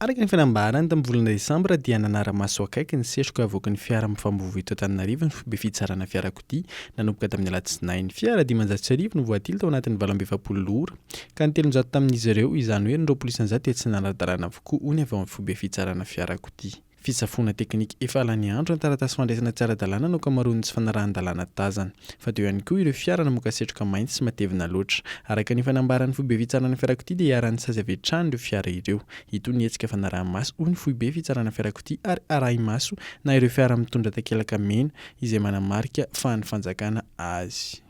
Araka ny fanambarany, tamin'ny volana desambra dia nanara-maso akaiky ny setroka avoaky ny fiara mifambovo eto Antananarivo ny foibe fitsarana fiarakodia, nanomboka tamin'ny alatsinainy. Fiara dimanjato sy arivo no voatily tao anatin'ny valo amby efapolo ora, ka ny telonjato tamin'izy ireo, izany hoe ny roapolo isanjato dia tsy nanara-dalàna avokoa, hoy ny avy ao amin'ny foibe fitsarana fiarakodia. Fitsafoana teknika efa lany andro ny taratasy fandraisana tsy ara-dalàna no ankamaroan'ny tsy fanarahan-dalàna tazana. Fa teo ihany koa ireo fiara namoaka setroka mainty sy matevina loatra. Araka ny fanambaran'ny foibe fitsarana fiarakodia dia iharan'ny sazy avy hatrany ireo fiara ireo. Hitohy ny hetsika fanaraha-maso hoy ny foibe fitsarana fiarakodia ary arahi-maso na ireo fiara mitondra takelaka mena izay manamarika fahan'ny fanjakana azy.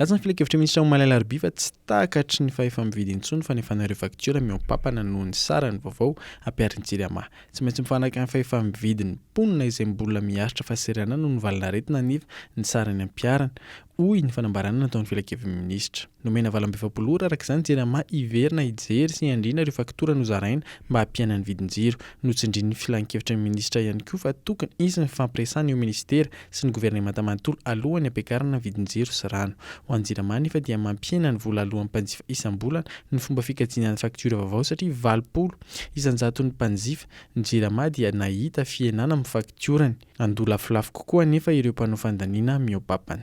Latsa ny filan-kevitr'i Minisitra Omaly Alarobia fa tsy tahaka hatry ny fahefa-mividy intsony ny fanefana ireo faktiora mihoa-pampana noho ny sarany vaovao ampiharin'ny Jirama. Tsy maintsy mifanaraka amin'ny fahefa-mividin'ny mponina izay mbola miharitra fahasahiranana noho ny valin'aretina aniva ny sarany ampiharina. hoy ny fanambarana nataon'ny filankevin'ny minisitra. Nomena valo amby efapolo ora araka izany Jirama hiverina hijery sy handrina ireo faktora nozaraina mba hampiana ny vidin-jiro. Notsindrin'ny filankevitry ny minisitra ihany koa fa tokony hisy ny fifampiresahana eo minisitera sy ny governemanta manontolo alohan'ny hampiakarana ny vidin-jiro sy rano. Ho an'i Jirama anefa dia mampihena ny vola aloan'ny mpanjifa isam-bolana ny fomba fikajiana ny faktiora vaovao satria valopolo isan-jaton'ny mpanjifa ny Jirama dia nahita fihenana amin'ny faktiorany. Handoa lafolafo kokoa anefa ireo mpanao fandaniana mihoa-papana.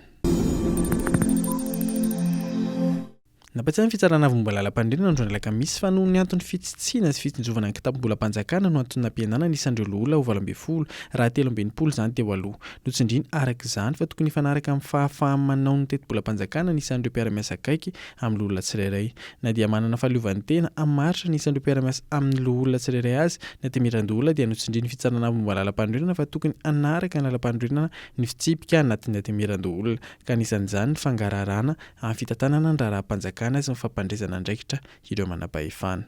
Nampatsiahy ny Fitsarana Vao Momba Lalampanorenana androany alakamisy fa noho ny antony fitsitsiana sy fitsinjovana ny kitabom-bolam-panjakana no anton'ny nampihenana ny isan'ireo loholona ho valo ambin'ny folo raha telo amby enimpolo izany teo aloha. Notsindriany araka izany fa tokony hifanaraka amin'ny fahafaham-manao ny tetibolam-panjakana ny isan'ireo mpiara-miasa akaiky amin'ny loholona tsirairay. Na dia manana fahaleovantena hamaritra ny isan'ireo mpiara-miasa amin'ny loholona tsirairay azy, ny Antenimierandoholona dia notsindrin'ny Fitsarana Avo Momba ny Lalampanorenana fa tokony hanaraka ny lalampanorenana ny fitsipika anatin'ny Antenimierandoholona, ka anisan'izany ny fangaraharana amin'ny fitantanana ny raharaham-panjakana sy ny fampandresana andraikitra ireo manam-pahefana.